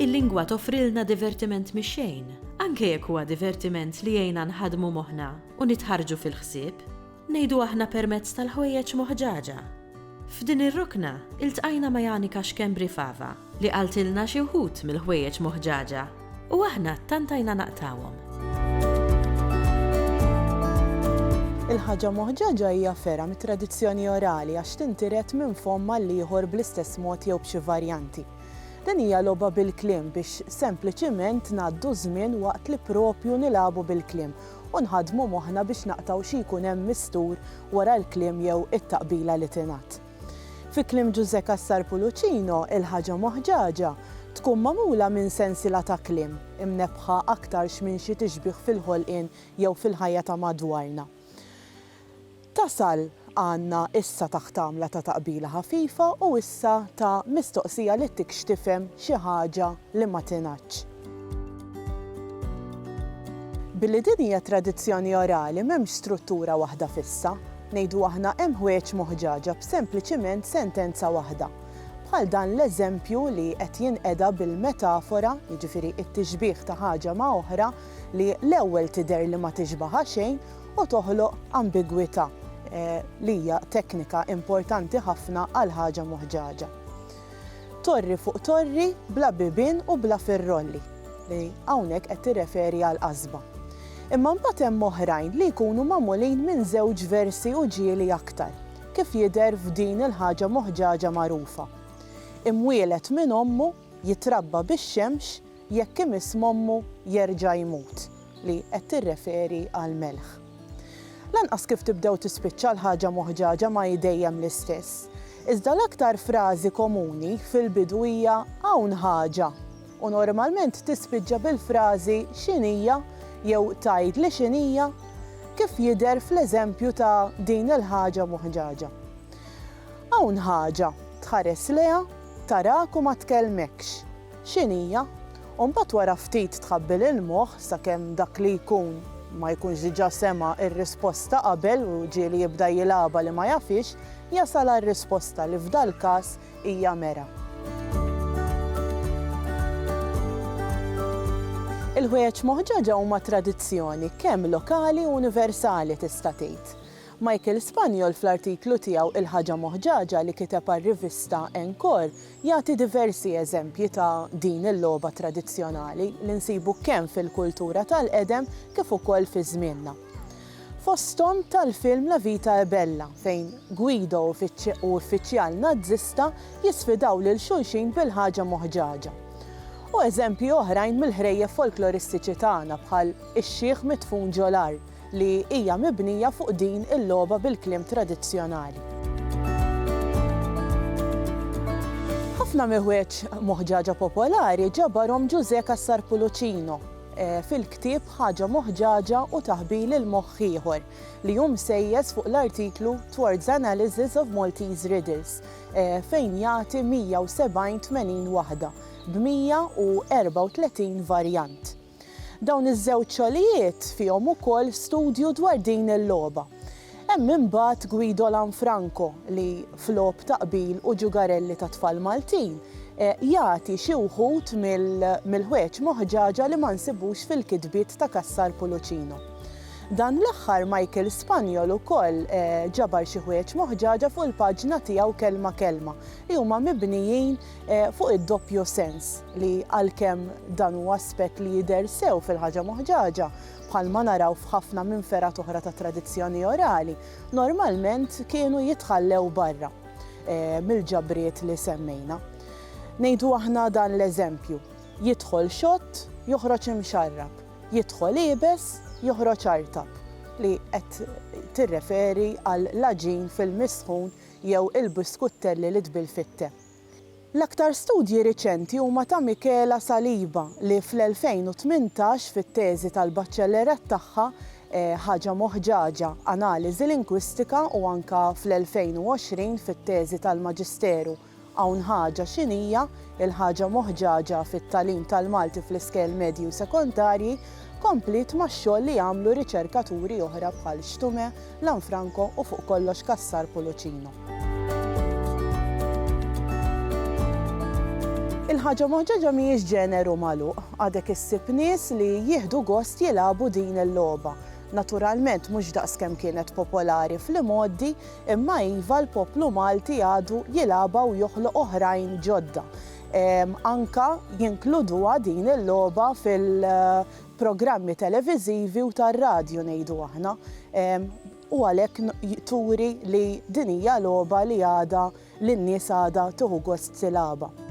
Il-lingwa toffrilna divertiment mix-xejn, anke jekk huwa divertiment li jgħinna nħaddmu moħħna u nitħarrġu fil-ħsieb, ngħidu aħna permezz tal-ħwejjeġ moħġaġa. F'din ir-rokna, iltqajna ma' Janika Schembri Fava, li qaltilna xi wħud mill-ħwejjeġ moħġaġa u aħna ttantajna naqtgħuhom. Il-ħaġa moħġaġa hija fergħa mit-tradizzjoni orali għax tintiret minn fomm għall-ieħor bl-istess mod jew b'xi varjanti. Din hija logħba bil-kliem biex sempliċiment ngħaddu ż-żmien waqt li proprju nilagħbu bil-kliem u nħaddmu moħħna biex naqtgħu xi jkun hemm mistur wara l-kliem jew it-taqbila li tingħad. Fi kliem Ġużè Cassar Pulucino, il-ħaġa moħġaġa tkun magħmula minn sensiela ta' kliem, imnebbħa aktarx minn xi tixbih fil-ħolqien jew fil-ħajja ta' madwarna. Tasal għandna issa ta' ħtamla ta' taqbila ħafifa u issa ta' mistoqsija li ttikx tifhem xi ħaġa li ma tingħadx. Billi din hija tradizzjoni orali m'hemmx struttura waħda fissa. Ngħidu aħna hemm ħwejjeġ moħġaġa b'sempliċiment sentenza waħda. Bħal dan l-eżempju li qed jinqeda bil-metafora, jiġifieri t-tixbih ta' ħaġa ma' oħra li l-ewwel tidher li ma tixbaħha xejn u toħloq ambigwità li hija teknika importanti ħafna għal ħaġa moħġaġa. Torri fuq torri bla bibien u bla firrolli, li hawnhekk qed tirreferi għall-qasba. Imma mbagħad hemm oħrajn li jkunu magħmulin minn żewġ versi u ġieli aktar, kif jidher f'din il-ħaġa moħġaġa magħrufa, Imwieled minn ommu, jitrabba bix-xemx, jekk imiss m'ommu jerġa' jmut, li qed tirreferi għall-melħ. Lanqas kif tibda u tispiċċa l-ħaġa moħġaġa ma hi dejjem l-istess. Iżda l-aktar frażi komuni fil-bidu hija hawn ħaġa u normalment tispiċċa bil-frażi x'inhija jew tgħidli x'inhija, kif jidher fl-eżempju ta' din il-ħaġa moħġaġa. Hawn ħaġa, tħares lejha, tarak u ma tkellmekx. x'in hija, u mbagħad wara ftit tħabbi lill-moħħ sakemm dak li jkun ma jkunx diġà sema' r-risposta qabel u ġieli jibda jilgħabha li ma jafhiex, jasal għar-risposta li f'dal-każ hija mera. Il-ħwejjeġ moħġaġa huma tradizzjoni kemm lokali u universali tista' tgħid. Michael Spaniol fl-artiklu tiegħu Il-Ħaġa Moħġaġa li kiteb għar-rivista Encore Jagħti diversi eżempji ta' din il-logħba tradizzjonali li nsibu kemm fil-kultura tal-qedem kif ukoll fi żmienna. Fosthom tal-film La vita è bella fejn Guido u uffiċjal Nazzista jisfidaw lil xulxin bil-ħaġa moħġaġa. U eżempji oħrajn mill-ħrejjef folkloristiċi tagħna bħal Ix-xiħ midfun ġo l-art. li hija mibnija fuq din il-logħba bil-kliem tradizzjonali. Ħafna miħwieġ moħġaġa popolari ġabarhom Ġużè Cassar Pulucino fil-ktieb Ħaġa Moħġaġa u Taħbil il-Moħħ Ieħor li hu msejjes fuq l-artiklu Towards Analysis of Maltese Riddles fejn jagħti 170 tmenin waħda b'134 varjant. Dawn iż-żewġ xogħlijiet fihom ukoll studju dwar din il-logħba. Hemm imbagħad Guido Lanfranco li, f'logħob ta' qbil u ġugarelli tat-tfal Maltin, jagħti xi wħud mill-ħwejjeġ moħġaġa li ma nsibux fil-kitbiet ta' Cassar Pulucino. Dan l-aħħar Michael Spanjol ukoll ġabar xi ħwejjeġ moħġaġa fuq il-paġna tiegħu Kelma Kelma li huma mibnijin Fuq id-doppju sens li għalkemm dan huwa aspett li jidher sew fil-ħaġa moħġaġa, bħalma naraw f'ħafna minn fergħat oħra tat-tradizzjoni orali, normalment kienu jitħallew barra mill-ġabriet li semmejna. Ngħidu aħna dan l-eżempju, jidħol xott, joħroġ imxarrab, jidħol iebes, joħroġ artab, li qed tirreferi għall-għaġin fil-misħun jew il-biskuttelli li tbill fit-te. L-aktar studji riċenti huma ta' Michela Saliba li fl-2018 fit-teżi tal-baċellerat tagħha Ħaġa Moħġaġa, Analiżi Lingwistika u anke fl-2020 fit-teżi tal-Maġisteru Hawn Ħaġa X'inhija l-Ħaġa Moħġaġa fit-Tagħlim tal-Malti fl-Iskejjel Medji u Sekondarji kompliet max-xogħol li għamlu riċerkaturi oħra bħal Stume Lanfranco u fuq kollox Cassar Pulucino. Il-ħaġa moħġoġa mhijiex ġeneru magħluq, għadek issib nies li jieħdu gost jilagħbu din il-logħba. Naturalment mhux daqs kemm kienet popolari fl-imgħoddi, imma iva l-poplu Malti għadu jilagħbha u joħloq oħrajn ġodda. Anke jinkluduha din il-logħba fil programmi televiżivi u tar-radju ngħidu aħna, u għalhekk turi li din hija logħba li għadha li n-nies għadha tieħu gost tilagħabha.